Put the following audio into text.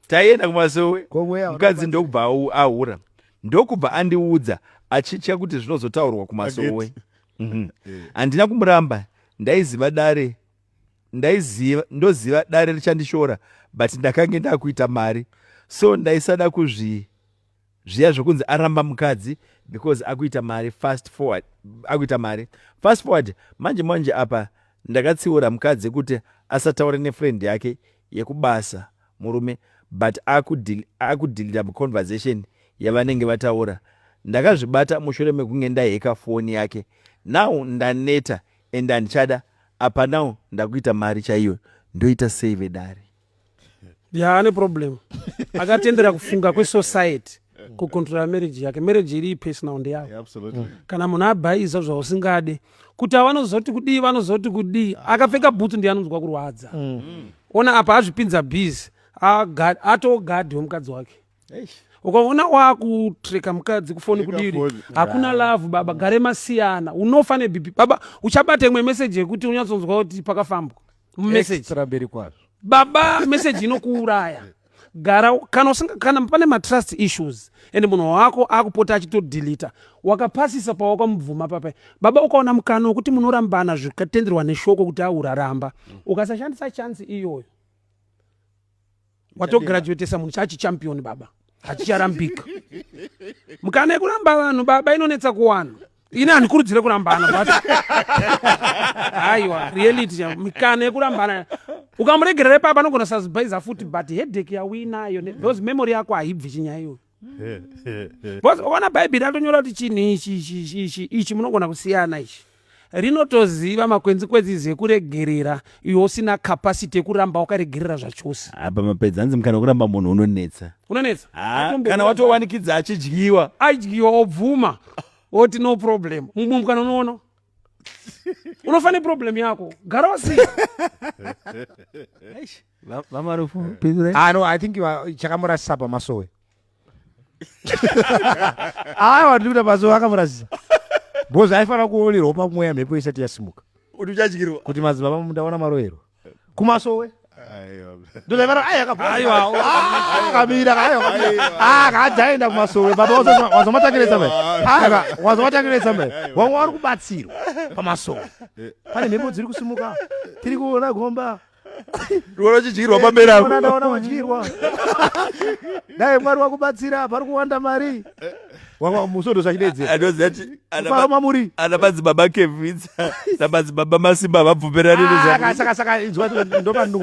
taienda kumasowe mukadzi ndokubva ahura ndokubva andiudza achitya kuti zvinozotaurwa kumasowe mhm. eh. handina kumuramba ndaiziva dare ndaiziva ndoziva dare richandishora but ndakange ndakuita mari so ndaisada kuzvii Zviya zvekunzi aramba mukadzi because akuita mari fast forward akuita mari fast forward manje manje apa ndakatsiura mukadzi kuti asataure nefriend yake yekubasa murume but akudhilita muconversation yavanenge vataura ndakazvibata mushure mekunge ndaheka foni yake now ndaneta and andichada apa now ndakuita mari chaiyo ndoita sei vedare ya ane problem akatendera kufunga kwesociety kucontrola marriage yake marriage iri personal ndeyayo absolutely mm. kana munhu abhaiza zvausingade kuti avanozoti kudii vanozoti kudii akapfeka bhutsu ndiye anonzwa kurwadza mm. ona apa azvipinza bizi atogadi wemukadzi wake ukaona wakutreka mukadzi kufoni kudiri hakuna love baba gare masiyana unofa nebhipi baba uchabata imwe meseji yekuti unyatsonzwa kuti pakafambwa mumeseji baba meseji inokuuraya gara kana usinga kana pane matrust issues and munhu wako akupota achitodilita wakapasisa pawakamubvuma papa baba ukaona mukana wekuti munorambana zvikatenderwa neshoko kuti auraramba ukasashandisa chansi iyoyo watograduatesa munhu chachi champion baba hachicharambika mukana yekuramba vanhu baba inonetsa kuwana ini handikurudzire kurambana but aiwa reality mikana yekurambana ukamuregerera ipapa anogona sazibhaiza futi but hedek yauinayo those memory yako haibvi chinyaya iyoyo bcause ukaona bhaibheri atonyora kuti chinhu ichi ichi ichi ichi munogona kusiyana ichi rinotoziva makwenzi kwedzi zekuregerera iwe usina capacity yekuramba wakaregerera zvachose apa mapedzi hanzi mukana wekuramba munhu unonetsa unonetsa ah, kana watowanikidza achidyiwa adyiwa obvuma oti no problem mumwe mukana unoona unofanira problem yako gara wasiya vamarufu pindurai ah no i think chakamurasisa pamasowe aya wati kuda masowe akamurasisa because aifanira kuonerwa pamweya mhepo isati yasimuka kuti uchadyirwa kuti madzibaba mundaona maroyero kumasowe akajaenda kumasowe baba wazomatangiretsa mbe wazomatangiretsa mbe wanga wari kubatsirwa pamasowe pane mhepo dziri kusimuka tiri kuona gomba ndiona uchidyirwa pamberi apo Ona ndaona wadyirwa dai mwari wakubatsira apa ari kuwanda mari wava musondo zvachidedzera anoziva kuti ana fara ma- mamuri ana madzibaba kevhidza namadzibaba masimba havabvumirani nezva Ah, saka saka inzwa ndopandingu